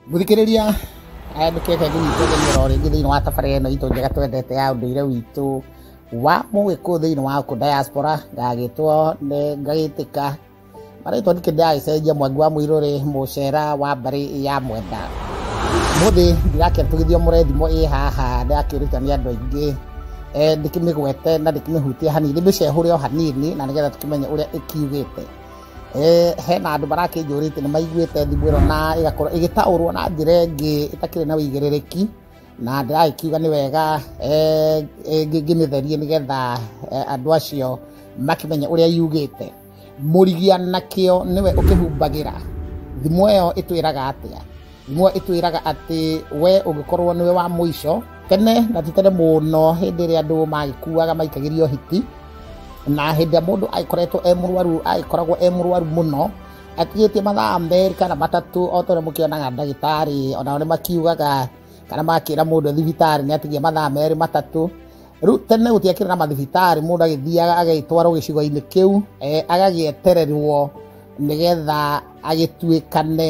Mũthikĩrĩria aya nĩ kebe gĩnyitagĩria o rĩngĩ thĩinĩ wa tabarĩra ĩno itũ njega twendete ya ũndũire witũ wa mũgĩkũyũ thĩinĩ wa kũ diaspora ngagĩtwo nĩ ngagĩtĩka marĩtwa nĩ kĩndĩ agĩcenjia mwangi wa mũirũrĩ mũcera wa mbarĩ ya mwenda mũthĩ ndirakĩrutithio mũrethimo ĩ haha ndĩrakĩruta nĩ andũ aingĩ eh, ndĩkĩmĩgwete na ndĩkĩmĩhutia hanini ndĩmĩcehũre o hanini na nĩgetha tũkĩmenye ũrĩa ĩkiugĩte Eh, hena andũ marakĩnjũrĩte nĩ maiguĩte thimũ ĩno na ĩgakorwo ĩgĩtaũrwo na njĩra ĩngĩ ĩtakĩrĩ na ũigĩrĩrĩki na ndĩragĩkiuga nĩ wega eh, eh, ngĩ- ngĩmĩtherie nĩgetha eh, andũ acio makĩmenye ũrĩa yugĩte mũrigia nakĩo nĩwe ũkĩhumbagĩra thimũ ĩyo ĩtwĩraga atĩa ngumo ĩtwĩraga atĩ we ũngĩkorwo nĩwe wa mũico tene na ti tene mũno hĩndĩ ĩrĩa andũ magĩkuaga maikagĩrio hiti na hĩndĩ ĩrĩa mũndũ agĩkoretwo e mũrwaru agĩkoragwo e mũrwaru mũno atigĩtie mathaa merĩ kana matatũ o tondũ mũkĩonaga ndagĩtarĩ onao nĩ makiugaga kana makĩra mũndũ thibitarĩ nĩ atigia mathaa merĩ matatũ rĩu tene gũtiakĩrĩ na mathibitarĩ mũndũ agĩthiaga agagĩtwarwo gĩcigo-inĩ kĩu eh, agagĩetererwo nĩgetha agĩtuĩkane